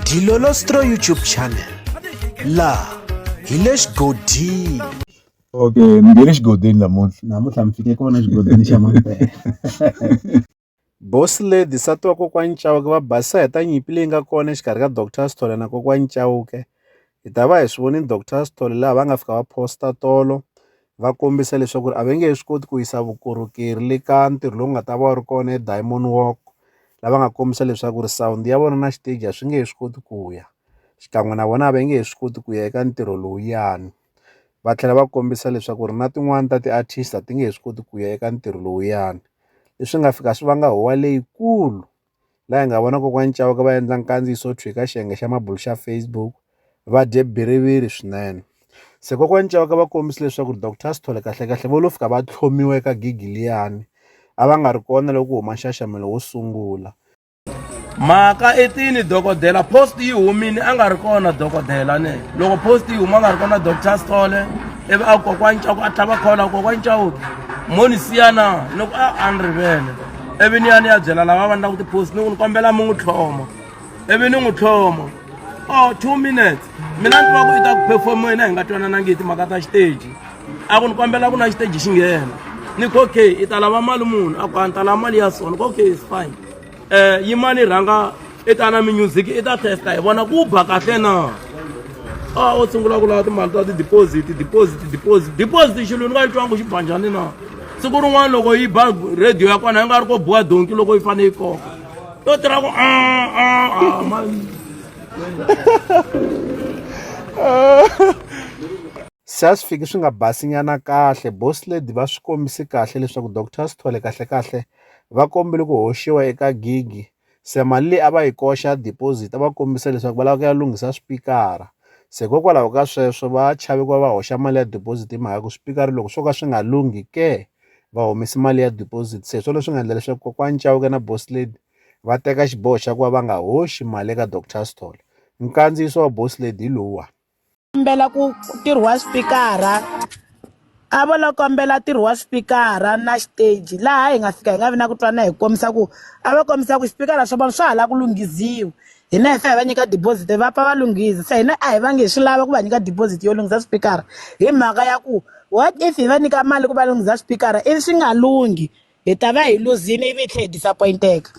Dilolostro YouTube channel laha hi le xigodini okay ni nge le xigodini namuntlha namuntlha mi fike kona xigodini xa mampela bosi lady nsati wa kokwani chauke va basisa hi ta nyimpi leyi nga kona exikarhi ka doctor sithole na kokwani chauke hi ta va hi swi vone doctor Sithole laha va nga fika va posta tolo va kombisa leswaku a va nge he swi koti ku yisa vukorhokeri le ka ntirho lowu nga ta va wu ri kona eDiamond Walk lava nga kombisa leswaku ri sound ya vona na xiteji a swi nge he swi koti ku ya xikan'we na vona a va nge he swi koti ku ya eka ntirho lowuyani va tlhela va kombisa leswaku ri na tin'wani ta ti-artist a ti nge he swi koti ku ya eka ntirho lowuyani leswi nga fika swi vanga huwa leyikulu. laha hi nga vona kokwani Chauke va endla nkandziyiso wo tshwika xiyenge xa mabulu xa Facebook va dye bhiriviri swinene se kokwani Chauke va kombisa leswaku doctor Sithole kahlekahle vo lo fika va tlhomiwa eka gigi liyani a va nga ri kona loko ku huma nxaxamelo wo sungula mhaka i tini dokodela post yi humile a nga ri kona dokodela ne loko post yi huma a nga ri kona doctor Sithole ivi a kokwani Chauke a tlhava khola kokwani Chauke mo ni siya na loko a a ni rivele ivi ni ya ni ya byela lava va ni languti post ni ku ni kombela mi n'wi tlhoma ivi ni n'wi tlhoma o oh, two minutes mina ni va ku i ta ku perform yena hi nga twananangi hi timhaka ta xiteji a ku ni kombela ku na xiteji xi nghena ni ku okay i ta lava mali munhu a ku a ni ta lava mali ya sona ku okay is fine um yimani rhanga i ta na minyuziki i ta testa hi vona ku ba kahle na a o sungula ku lava timali ta ti-deposit deposit deposit deposit xilwini ka yi twangu xi ba njhani na siku rin'wana loko yi ba radio ya kona yi nga ri ko buwa donki loko yi fanele yi koka yo tirha ku se a swi fiki swi nga basinyana kahle boss lady va swi kombise kahle leswaku doctor sithole kahlekahle va kombile ku hoxiwa eka gigi se mali leyi a va yi koxa deposit a va kombisa leswaku va lava ku ya lunghisa swipikara se hikokwalaho ka sweswo va chave ku va va hoxa mali ya deposit hi mhaka ya ku swipikara loko swo ka swi nga lunghi ke va humese mali ya deposit se hi swona leswi nga endla leswaku kokwani Chauke na boss lady va teka xiboho xa ku va va nga hoxi mali eka doctor Sithole nkandziyiso wa boss lady hi lowuwani. kombela ku ntirho wa xipikara a vo lo kombela ntirho wa xipikara na xiteji laha hi nga fika hi nga vi na ku twana hi kombisa ku a va kombisa ku xipikara swa vona swa ha lava ku lunghisiwa hina hi fa hi va nyika deposit va pfa va lunghisa se hina a hi vangi hi swi lava ku va nyika deposit yo lunghisa xipikara hi mhaka ya ku what if hi va nyika mali ku va lunghisa xipikara ivi swi nga lunghi hi ta va hi luzini ivi hi tlhe hi disappointeka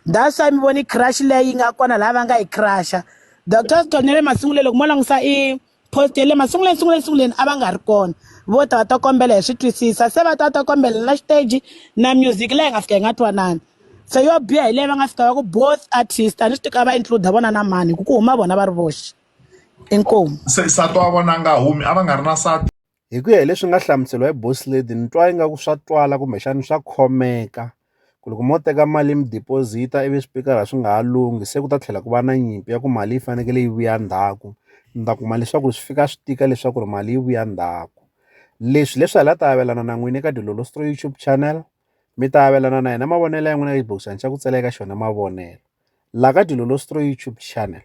that's why mi voni crush leyi yi nga kona laha va nga yi crusha doctor stonele masunguleni loko mo langusa i post ya le masunguleni sunguleni sunguleni a va nga ri kona vo ta va ta kombela hi swi twisisa se va ta ta kombela na xiteji na music leyi nga fika yi nga twanani se yo biha hi leyi va nga fika va ku both artist a ni swi tika va include vona na mani hi ku ku huma vona va ri voxe inkomu se sati wa vona a nga humi a va nga ri na sati Hi ku ya hi leswi nga hlamuseriwa hi boss lady ni twa ingaku swa twala kumbexani swa khomeka ku loko mo teka mali mi deposit-a ivi swipikara swi nga ha lunghi se ku ta tlhela ku va na nyimpi ya ku mali yi fanekele yi vuya ndzhaku ni ta kuma leswaku swi fika swi tika leswaku ri mali yi vuya ndzhaku leswi leswi hala ta avelana na n'wini eka Dilolosto YouTube channel mi ta avelana na yena mavonelo ya n'wina xibokisana xa ku tsalela eka xona mavonelo la ka Dilolosto YouTube channel